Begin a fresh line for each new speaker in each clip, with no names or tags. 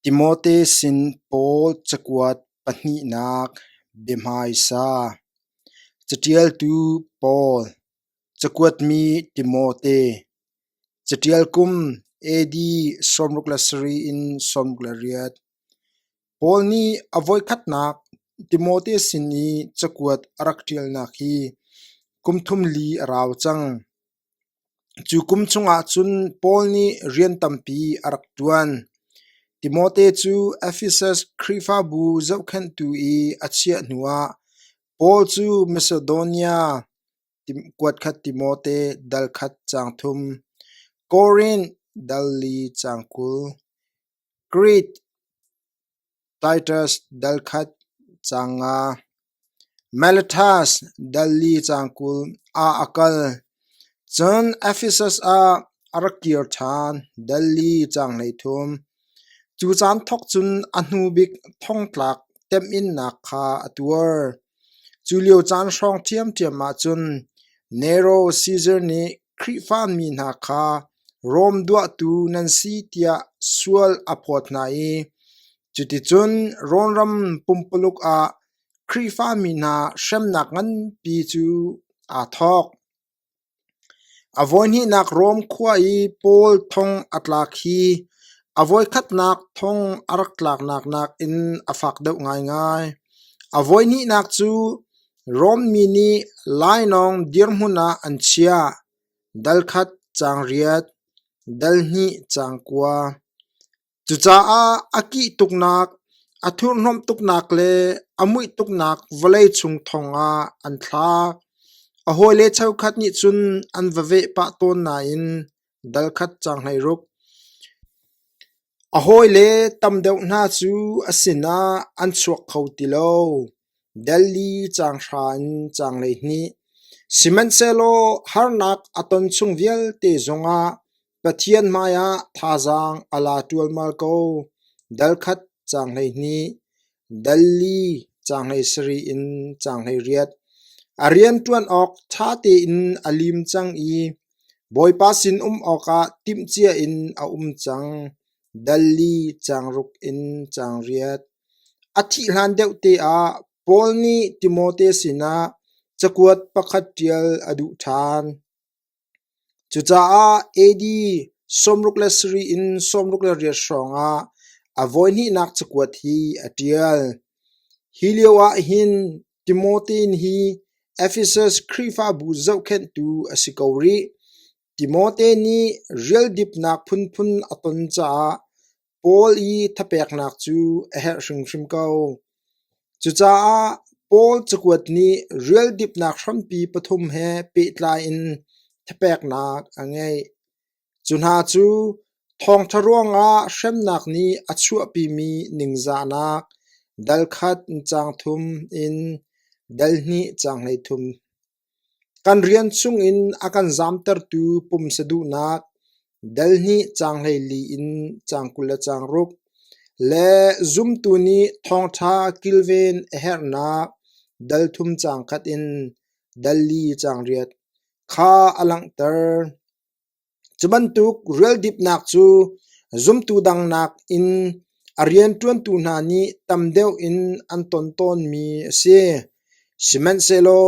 Timote sin Paul cakuat pahnihnak biahmaisa Caṭialtu Paul Cakuatmi Timote Caṭial kum AD sawmruk le sarih in sawmruk le riat Paul nih a voikhatnak Timote sin i cakuat a rak ṭialnak hi kum thum li a rau cang. Cu kum chungah cun Paul nih rian tampi a rak ṭuan. Timote cu Efesus Khrihfabu zohkhenhtu i a chiah hnuah Paul cu Masedonia kuatkhat Timote dal khat caang thum, Korin dal li caang kul, Krit Titus dal khat cang nga, Miletus dal li cang kul ah a kal. Cun Efesus ah a rak kir ṭhan dal li cang hleithum. Cu caan thawk cun a hnu bik thongtlak temhinnak kha a tuar. Cu lio caan hrawng ṭhiamṭhiam ah cun Nero Caesar nih Khrihfa mi hna kha Rom duahtu nan si tiah sual a phawt hna i cuticun Rom ram pumpuluk ah Khrihfa mi hna hremnak nganpi cu aa thawk. A voihnihnak Rom khua i Paul thong a tlak hi a voikhatnak thong a rak tlaknak nakin a fak deuh ngaingai. A voihnihnak cu Rom mi nih lainawng dirhmun ah an chiah: dal khat caang riat, dal hnih caang kua. Cucaah a kih tuknak, a thurhnomh tuknak le a muih tuknak vawlei chung thongah an thlak. A hawile cheukhat nih cun an va veh pah tawn nain dal khat caang hleiruk. A hawile tam deuh hna cu a sinah an chuak kho ti lo, Delhi caanghra in caang hleihnih. Sihmanhsehlaw harnak a ton chung vialte zongah Pathian hmaiah thazaang a la ṭualmal ko. Dal khat caang hleihnih. Dal li caanghei sarih in caanghei riat. A rian ṭuan awk ṭha tein a lim cang i Bawipa sinum awkah timhcia in a um cang. Dal li caangruk in caanriat. A thih hlan deuh te ah Paul nih Timote sinah cakuat pakhat ṭial a duh ṭhan. Cucaah AD sawmruk le sarih in sawmruk le riat hrawngah a voihnihnak cakuat hi a ṭial. Hi lio ahhin Timotein hi Efesus Khrihfabu zohkhenhtu a si ko rih. Timote nih rial dipnak phunphun a ton caah Paul i thapeknak cu a herh hrimhrim ko. Cucaah Paul cakuat nih rial dipnak hrampi pathum he pehtlai in thapeknak a ngeih. Cu hna cu thawngṭha ruangah hremnak nih a chuahpimi ningzahnak, dal khat cang thum in dal hnih cang hlei thum. Kan rian chungin a kan zamtertu pumsa duhnak, delhnih caanghlei in caang kul le caang ruk, le zumtu nih thawngṭha kilven a herhnak delthum caang khat in del li caang riat kha a langhter. Cu bantuk rualdipnak cu zumtu dang nakin a rianṭuantu hna nih tam deuh in an ton tawnmi a si. Sihmanhsehlaw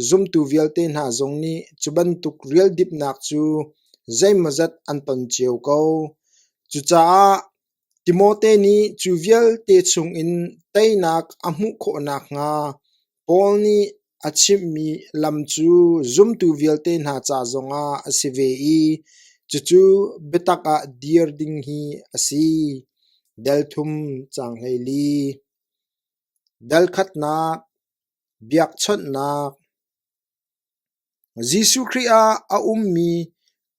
zumtu vialte hna zong nih cu bantuk rualdipnak cu zeimawzat an ton cio ko. Cucaah Timote nih cu vialte chungin teinak a hmuh khawh nakhnga Paul nih a chimhmi lam cu zumtu vialte hna ca zongah a si ve i cucu biatak ah dir ding hi a si. Del thum cang hlei li. Dal khatnak, biakchawnhnak, Jesuh Khrih ah a ummi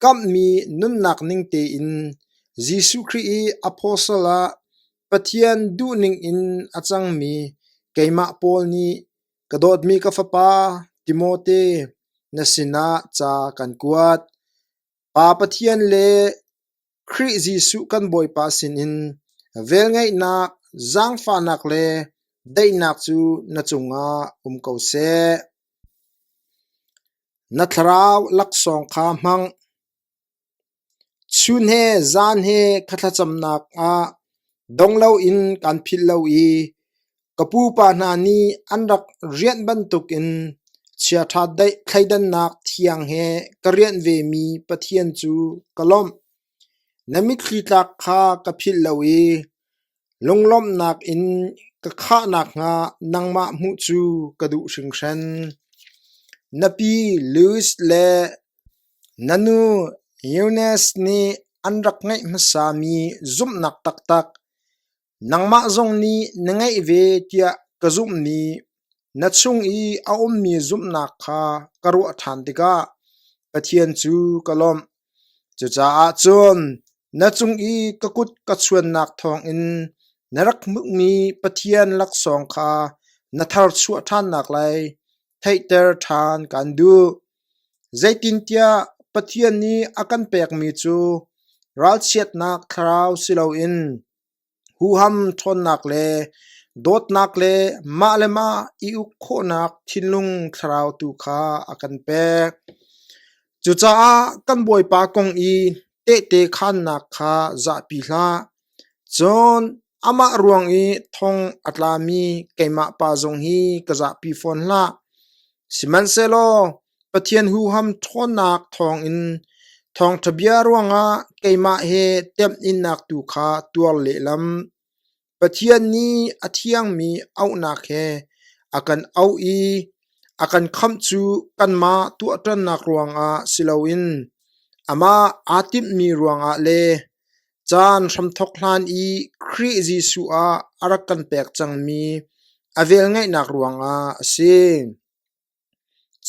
kamhmi nunnak ning tein Jesuh Khrih i apostle ah Pathian duhning in a cangmi keimah Paul nih ka dawtmi ka fapa Timote na sinah ca kan kuat. Pa Pathian le Khrih Jesuh kan Bawipa sinin velngeihnak, zaangfahnak le daihnak cu na cungah um ko seh. Na thlarau laksawng kha hmang. Chun he zan he kha thlacamnak ah dong loin kan philh lo i Ka pupa hna nih an rak rianh bantukin chiaṭha daih thleidannak thiang he ka rianh vemi Pathian cu ka lawmh. Na mitthli tlak kha ka philh lo i lunglawmhnak in ka khah nakhnga nangmah hmuh cu ka duh hringhran. Na pi Louis le na nu Eunice nih an rak ngeih hmasami zumhnak taktak Nangmah zong nih na ngeih ve tiah ka zumhmi na chung i a ummi zumhnak kha ka ruah ṭhan tikah Pathian cu ka lawmh. Cucaah cun na cung i ka kut ka chuannak thawngin na rak hmuhmi Pathian laksawng kha na tharchuah ṭhannak lai theihter ṭhan kan duh. Zeitintiah Pathian nih a kan pekmi cu ralchiatnak thlarau si loin Huham ṭhawnnak le dawtnak le mah le mah i uk khawhnak thinlung thlarau tu kha a kan pek. Cucaah kan Bawipa kong i tehte khaannak kha zahpi hlah. Cun amah ruang i thong a tlami keimah pa zong hi ka zahpi fawn hlah. Sihmanhsehlaw Pathian huham ṭhawnnak thawngin thawngṭha bia ruangah keimah he temhinnak tu kha tuar lehlam. Pathian nih a thiangmi auhnak he a kan auh i a kan khamh cu kanmah tuahṭannak ruangah si loin amah aa timhmi ruangah le caan hramthawk hlan i Khrih Jesuh ah a rak kan pek cangmi a velngeihnak ruangah a si.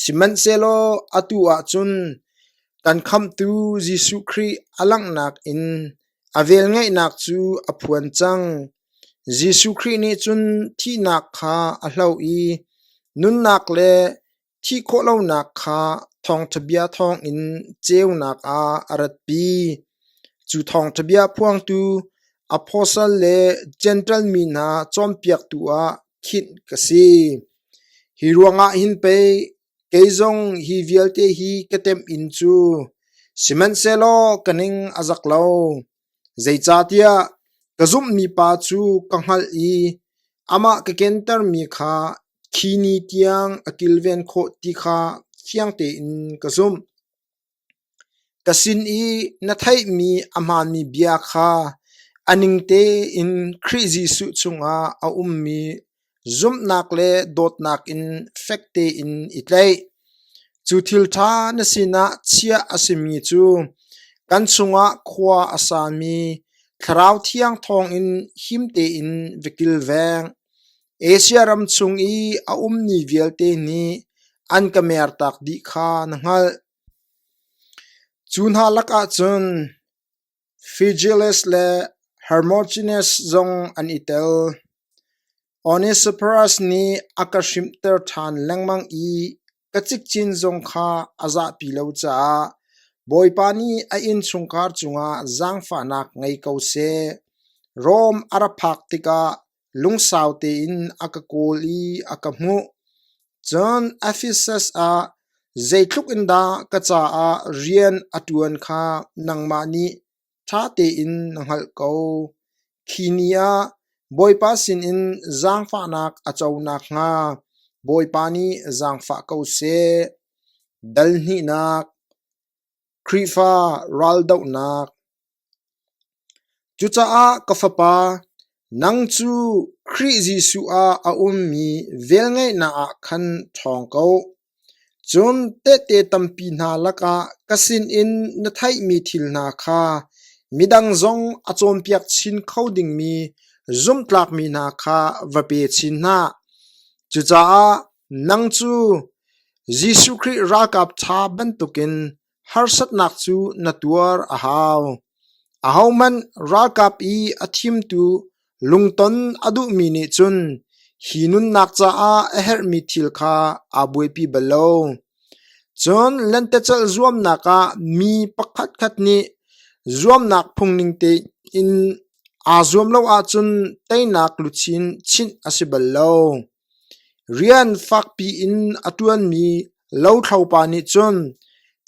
Sihmanhsehlaw atu ah cun kan Khamhtu Jesuh Khrih a langhnak in a velngeihnak cu a phuan cang. Jesuh Khrih nih cun thihnak kha a hloh i nunnak le thih khawhlonak kha thawngṭha bia thawngin ceunak ah a ratpi. Cu thawngṭha bia phuangtu apostle le Jentail mi hna cawnpiaktu ah khinh ka si. Hi ruangah hin pei kei zong hi vialte hi ka temh inn cu sihmanhsehlaw ka ning a zak lo, zeicahtiah ka zumhmi pa cu ka hngalh i amah ka kentermi kha khi ni tiang a kilven khawh ti kha fiang tein ka zumh. Ka sin i na theihmi a hmaanmi bia kha a ning tein Khrih Jesuh cungah a ummi zumhnak le dawtnak in fek tein i tlaih. Cu thil ṭha na sinah chiah a simi cu kan chungah khua a sami Thlarau Thiang thawngin him tein va kilveng. Asia ram chung i a ummi vialte nih an ka mertak dih kha na hngalh. Cu hna lakah cun Phygelus le Hermogenes zong an i tel. Onesiphorus nih a ka hrimhter ṭhan lengmang i ka cikcin zong kha a zahpi lo caah Bawipa nih a innchungkhar cungah zaangfahnak ngei ko seh. Rom a ra phak tikah Lungsau tein a ka kawl i a ka hmuh. Cun Ephesus ah zeitluk in dah ka caah rian a ṭuan kha nangmah nih ṭha tein na hngalh ko. Khi ni ah Bawipa sinin zaangfahnak a co nakhnga Bawipa nih zaangfah ko seh. Dal hnihnak Khrihfa raldohnak Cucaah ka fapa, nang cu Khrih Jesuh ah a ummi velngeihnak ah khan ṭhawng ko. Cun tehte tampi hna lakah ka sinin na theihmi thil hna kha midang zong a cawnpiak chin kho dingmi zumhtlakmi hna kha va pe chin hna. Cucaah Nang cu Jesuh Khrih ralkap ṭha bantukin harsatnak cu na tuar a hau. Ahohmanh ralkap i a thimtu lungton a duhmi nih cun hi nunnak caah a herhmi thil kha aa buaipi bal lo. Cun lentecelh zuamnak ah mi pakhatkhat nih zuamnak phungning tein aa zuam lo ahcun teinak luchin chinh a si bal lo. Rian fakpi in a ṭuanmi lothlopa nih cun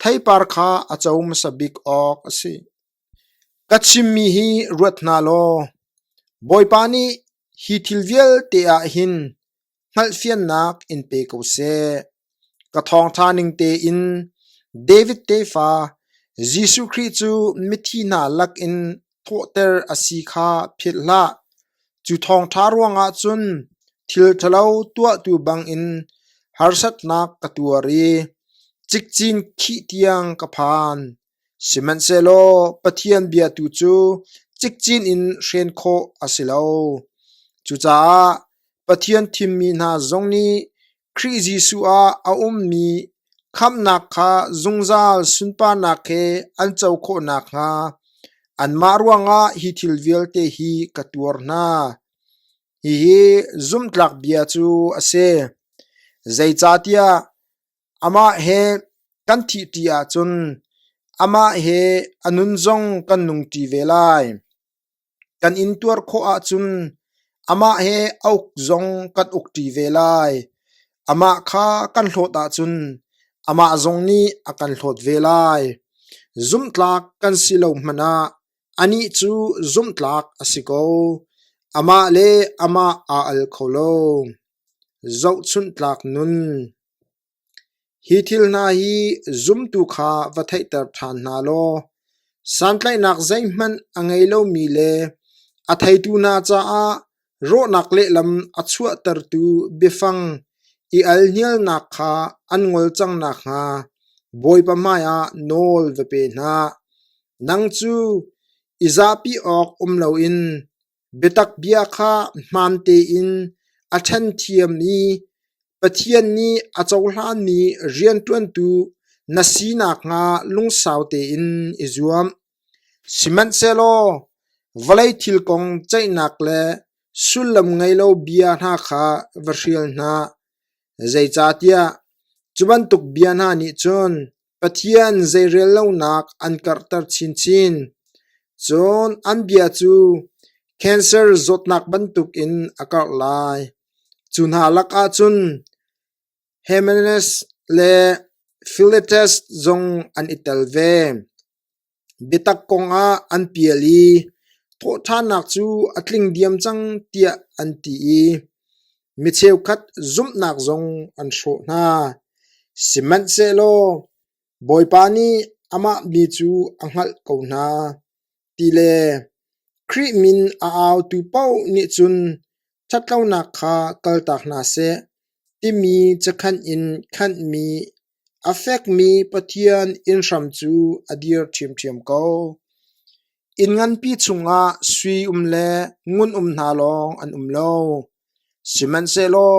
theipar kha a co hmasa bik awk a si. Ka chimmi hi ruat hna law, Bawipa nih hi thil vialte ah hin hngalhfiannak in pe ko seh. Ka thawngṭha ning tein David tefa Jesuh Khrih cu mithi hna lakin thawhter a si kha philh hlah. Cu thawngṭha ruangah cun thil ṭhalo tuahtu bangin harsatnak ka tuar i cikcin khih tiang ka phan. Sihmanhsehlaw Pathian bia tu cu cikcin in hren khawh a si lo. Cucaah Pathian thimmi hna zong nih Khrih Jesuh ah a ummi khamhnak kha zungzal sunparnak he an co khawh nakhnga anmah ruangah hi thil vialte hi ka tuar hna. Hihi zumhtlak bia cu a si. Zeicahtiah amah he kan thihṭi ahcun amah he a nun zong kan nungṭi ve lai. Kan in tuar khawh ahcun amah he a uk zong kan ukṭi ve lai. Amah kha kan hlawt ahcun amah zong nih a kan hlawt ve lai. Zumhtlak kan si lo hmanh ah anih cu zumhtlak a si ko. Amah le amah aa al kho lo. Zohchunhtlak nun. Hi thil hna hi zumtu kha va theihter ṭhan hna law santlaihnak zeihmanh a ngei lomi le a theitu hna caah rawhnak lehlam a chuahtertu biafang i alhnialnak kha an ngol cang nakhnga Bawipa hmaiah nawl va pe hna. Nang cu i zahpi awk um loin Biatak bia kha hmaan tein a ṭhenthiam i Pathian nih a cohlanmi rianṭuantu na si nakhnga lungsau tein i zuam. Sihmanhsehlaw vawlei thil kong ceihnak le sullam ngei lo bia hna kha va hrial hna, zeicahtiah cu bantuk bia hna nih cun Pathian zeirel lonak an karhter chinchin, cun an bia cu cancer zawtnak bantukin a karh lai. Cu hna lakah cun Hymenaes le Philetas zong an i tel ve. Biatak kongah an pial i thawhṭhannak cu a tling diam cang tiah an ti i mi cheukhat zumhnak zong an hrawh hna. Sihmanhsehlaw Bawipa nih amah mi cu a hngalh ko hna ti le Khrih min a autu paoh nih cun ṭhatlonak kha kaltak hna seh timi cakhanh in khanhmi A fekmi Pathian inn hram cu a dir ṭhiamṭhiam ko. Inn nganpi chungah sui um le ngun um hna lawng an um lo. Sihmanhsehlaw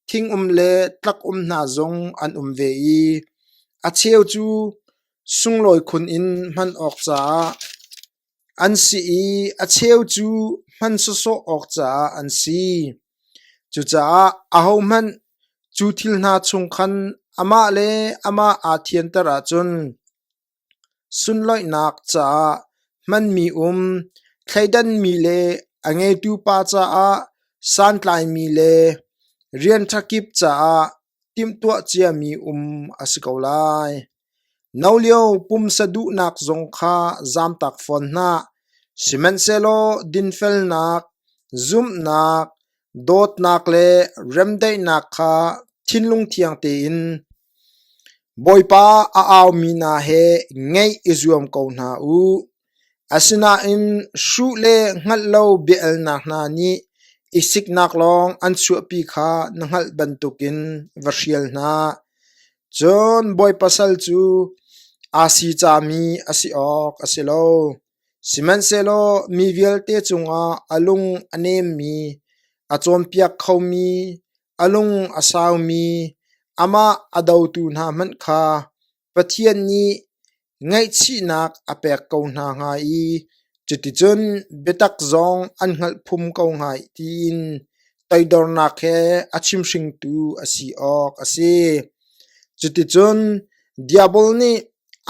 thing um le tlak um hna zong an um ve i a cheu cu sunglawi khun in hman awk caah An si i a cheu cu hman sawsawh awk caah an si. Cucaah ahohmanh cu thil hna chung khan amah le amah aa thianter ahcun sunloihnak caah hmanmi um, thleidanmi le a ngeitu pa caah santlaimi le rian ṭha kip caah timhtuah ciami um a si ko lai. No lio pumsa duhnak zong kha zamtak fawn hna, sihmanhsehlaw dinfelnak, zumhnak, dawtnak le remdaihnak kha thinlung thiang tein Bawipa a aumi hna he ngeih i zuam ko hna u. Asinain hruh le hngalh lo biahalnak hna nih i siknak lawng an chuahpi kha na hngalh bantukin va hrial hna. Cun Bawipa sal cu aa sicami a si awk a si lo. Sihmanhsehlaw mi vialte cungah a lung a nemmi, a cawnpiak khomi, a lung a saumi, amah a dotu hna hmanh kha Pathian nih ngaihchihnak a pek ko hna hnga i cuticun biatak zong an hngalh phum ko hnga tiin toidornak he a chimhringtu a si awk a si. Cuticun Diabol nih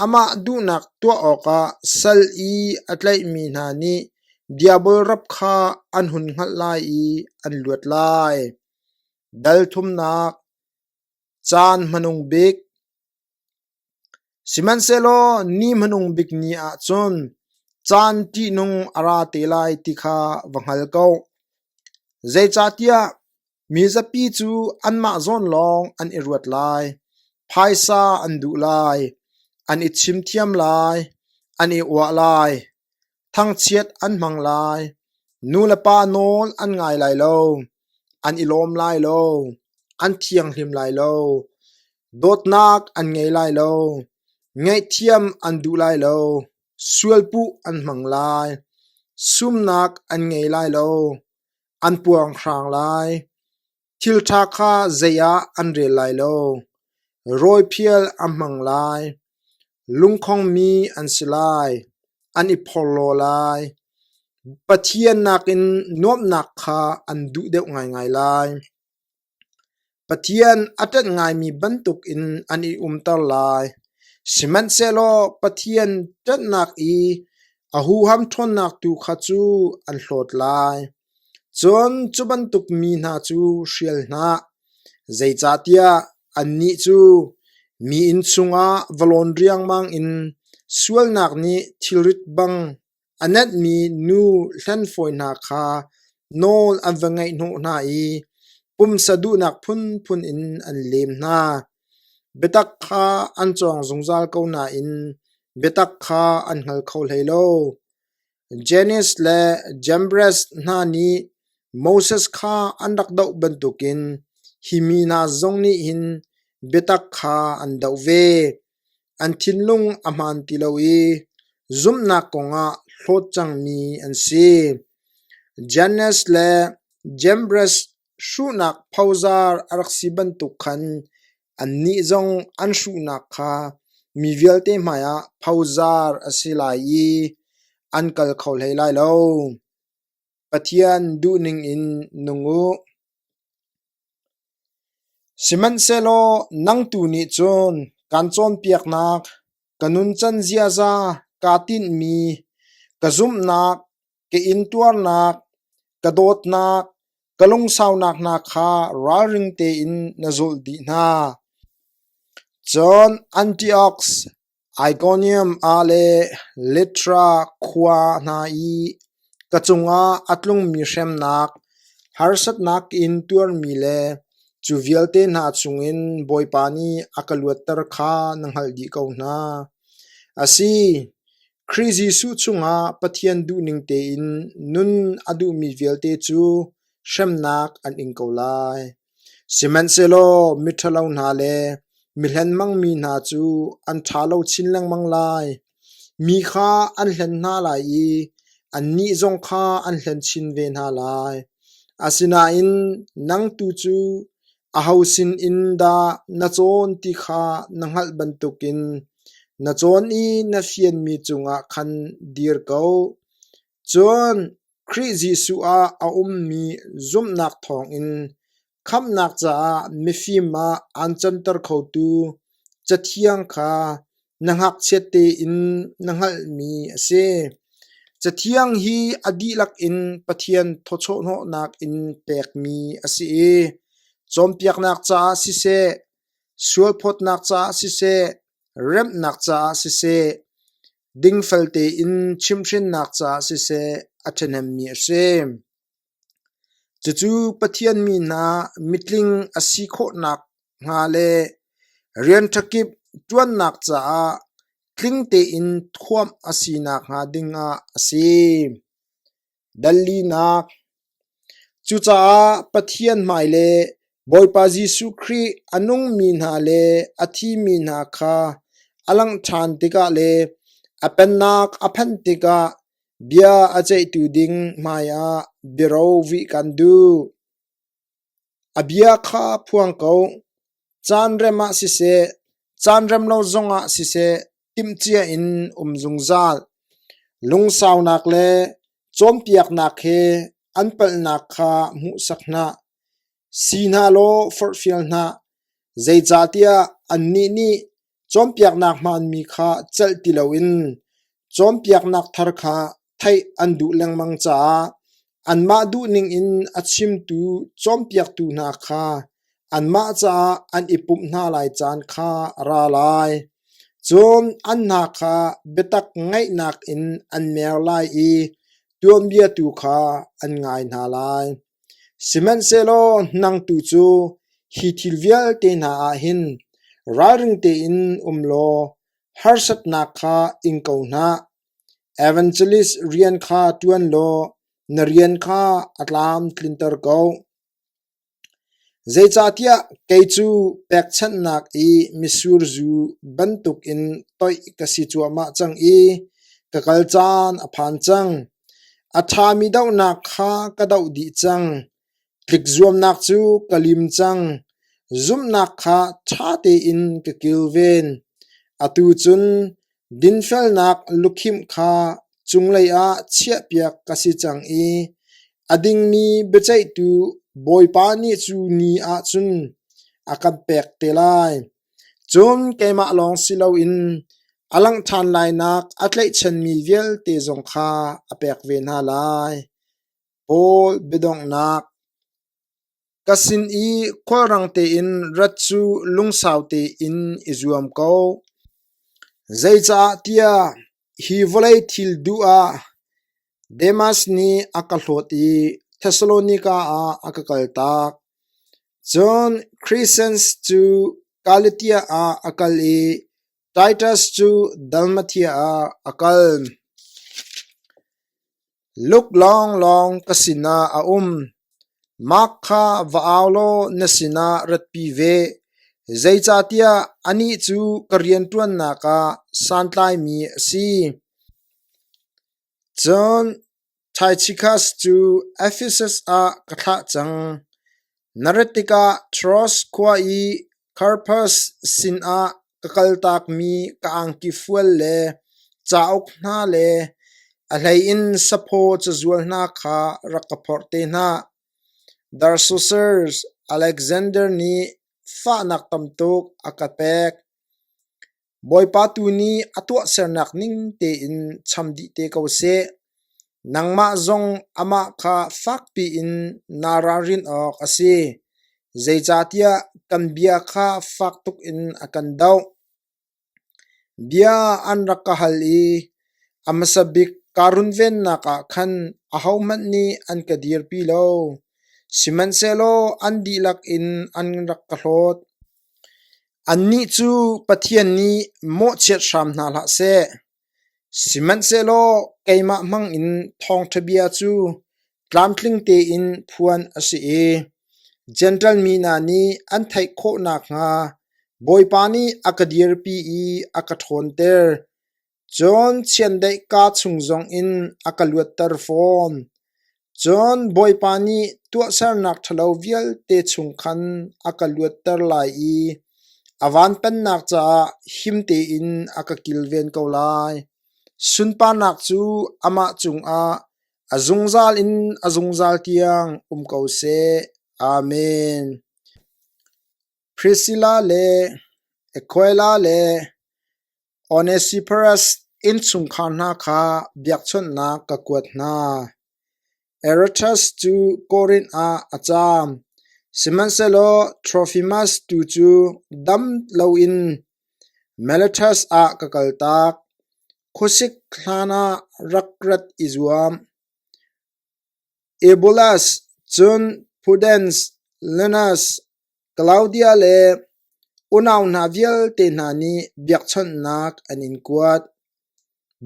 amah duhnak tuah awkah sal i a tlaihmi hna nih Diabol rap kha an hun hngalh lai i an luat lai. Dal thumnak Caan hmanung bik Sihmanhsehlaw ni hmanung bik ni ahcun caan ṭihnung a ra te lai ti kha va hngal ko. Zeicahtiah mi zapi cu anmah zawn lawng an i ruat lai, phaisa an duh lai, an i chim thiam lai, an i uah lai. Thangchiat an hmang lai, nu le pa nawl an ngai lai lo, an i lawm lai lo, an thianghlim lai lo, dawtnak an ngei lai lo, ngaihthiam an duh lai lo, sualpuh an hmang lai, sumnak an ngei lai lo, an puanghrang lai. Thil ṭha kha zei ah an rel lai lo; rawiphial an hmang lai. Lungkhongmi an si lai, an i phorhlaw lai. Pathian nakin nuamhnak kha an duh deuh ngaingai lai. Pathian a ṭanh ngaimi bantukin an i umter lai, sihmanhsehlaw Pathian ṭanhnak i a huham ṭhawnnak tu kha cu an hlawt lai. Cun cu bantuk mi hna cu hrial hlah, zeicahtiah annih cu mi inn chungah va lawn riangmang in sualnak nih thilrit bang a nenhmi nu hlen fawi hna kha nawl an va ngaih hnawh hna i pumsa duhnak phunphun in an lem hna. Biatak kha an cawng zungzal ko nain biatak kha an hngal kho hlei lo. Janice le Jambres hna nih Moses kha an rak doh bantukin hi mi hna zong nih hin biatak kha an doh ve. An thinlung a hmaan ti lo i zumhnak kongah hlawt cangmi an si. Janice le Jambres Hruhnak phozar a rak si bantuk khan annih zong an hruhnak kha mi vialte hmaiah phozar a si lai i an kal kho hlei lai lo. Pathian duhning in nung u. Sihmanhsehlaw nang tu nih cun kaan cawnpiaknak, ka nuncan ziaza kaa tinhmi, ka zumhnak, ka intuarnak, ka dawtnak, ka lungsaunak hna kha ralring tein na zulh dih hna. Cun Antiochs, Ikonium ah le Litra khua hna i ka cungah a tlungmi hremnak, harsatnak ka in tuarmi le cu vialte hna chungin Bawipa nih a ka luatter kha na hngalh dih ko hna. A si, Khrih Jesuh chungah Pathian duhning tein nun a duhmi vialte cu hremnak an ing ko lai. Sihmanhsehlaw miṭhalo hna le mihlen mangmi hna cu an ṭha lo chin lengmang lai. Mi kha an hlen hna lai i annih zong kha an hlen chin ve hna lai. Asinain nang tu cu Aho sinin dah na cawn ti kha na hngalh bantukin na cawn i na fianmi cungah khan dir ko. Cun Khrih Jesuh ah a ummi zumhnak thawngin khamhnak caah mifim ah aan canter khotu Cathiang kha na ngakchiat tein na hngalhmi a si. Cathiang hi a dihlak in Pathian thawchawhnawhnak in pekmi a si i cawnpiaknak caah siseh, sualphawtnak caah siseh, remnak caah siseh, dingfel tein chimhrinnak caah siseh a ṭhahnemmi a si. Cucu Pathian mi hna mitling a si khawhnak hnga le rian ṭha kip ṭuannak caah tling tein thuamh a si nakhnga dingah a si. Dallinak Cucaah Pathian hmai le Bawipa Jesuh Khrih a nungmi hna le a thimi hna kha a langh ṭhan tikah le a pennak a phanh tikah Bia a ceihtu ding hmaiah biaro vih kan duh. A bia kha phuang ko. Caanrem ah siseh, caanrem lo zongah siseh timhcia in um zungzal. Lungsaunak le cawnpiaknak he an palhnak kha hmuhsak hna. Si hna law forhfial hna, zeicahtiah annih nih Cawnpiaknak hmaanmi kha celh ti loin cawnpiaknak thar kha theih an duh lengmang caah anmah duhning in a chimtu cawnpiaktu hna kha anmah caah an i pumh hna lai caan kha a ra lai. Cun an hna kha biatak ngaihnak in an mer lai i tuanbia tu kha an ngai hna lai. Sihmanhsehlaw nang tu cu hi thil vialte hna ah hin ralring tein um law harsatnak kha ing ko hna. Evangelist rian kha ṭuan law na rian kha a tlam tlinter ko. Zeicahtiah kei cu pekchanhnak i mitsur zu bantukin toih ka si cuahmah cang i ka kal caan a phan cang. A ṭhami dohnak kha ka doh dih cang, tlikzuamnak cu ka lim cang, zumhnak kha ṭha tein ka kilven. Atu cun dinfelnak lukhimh kha cunglei ah chiahpiak ka si cang i a dingmi biaceihtu Bawipa nih cu ni ahcun a kan pek te lai. Cun keimah lawng si loin a langh ṭhan lainak a tlaihchanmi vialte zong kha a pek ve hna lai. Paul biadonghnak Ka sin i khulrang tein rat cu lungsau tein i zuam ko. Zeicahtiah hi vawlei thil duh ah Demas nih a ka hlawt i Thessalonika ah a ka kaltak. Cun Kresens cu Galatia ah a kal i Titus cu Dalmatia ah a kal. Luk lawnglawng ka sinah a um. Mark kha va au law na sinah ratpi ve, zeicahtiah anih cu ka rianṭuannak ah santlaimi a si. Cun Tychicus cu Ephesus ah ka thlah cang. Na rat tikah Troas khua i Carpus sinah ka kaltakmi ka angkifual le cauk hna le a hleiin saphaw cazual hna kha rak ka phorh te hna. Darsosus, Aleksander nih fahnak tam tuk a ka pek. Bawipa tu nih a tuahsernak ning tein cham dih te ko seh. Nangmah zong amah kha fakpi in naa ralrin awk a si, zeicahtiah kan bia kha fak tuk in a kan doh. Bia an rak ka hal i a hmasa bik kaa runvennak ah khan ahohmanh nih an ka dirpi lo, sihmanhsehlaw an dihlak in an rak ka hlawt. Annih cu Pathian nih mawhchiat hram hna hlah seh; sihmanhsehlaw keimah hmangin thawngṭha bia cu tlamtling tein phuan a si i Jentail mi hna nih an theih khawh nakhnga Bawipa nih a ka dirpi i a ka ṭhawnter. Cun chiandeih kaa chung zongin a ka luatter fawn. Cun Bawipa nih tuahsernak ṭhalo vialte chung khan a ka luatter lai i a vantannak caah him tein a ka kilven ko lai. Sunparnak cu amah cungah a zungzal in a zungzal tiang um ko seh. Amen. Prisilla le Aquila le Onesiphorus innchungkhar hna kha biakchawnhnak ka kuat hna. Eretas cu Korinth ah a caam, sihmanhsehlaw Trofimas tu cu dam loin Miletus ah ka kaltak. Khuasik hlanah rak rat i zuam. Ebulas, cun Pudens, Lenas, Klaudia le unau hna vialte hna nih biakchonhnak an in kuat.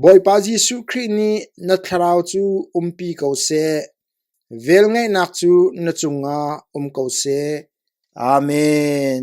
Bawipa Jesuh Khrih nih na thlarau cu umpi ko seh. Velngeihnak cu na cungah um ko seh. Amen.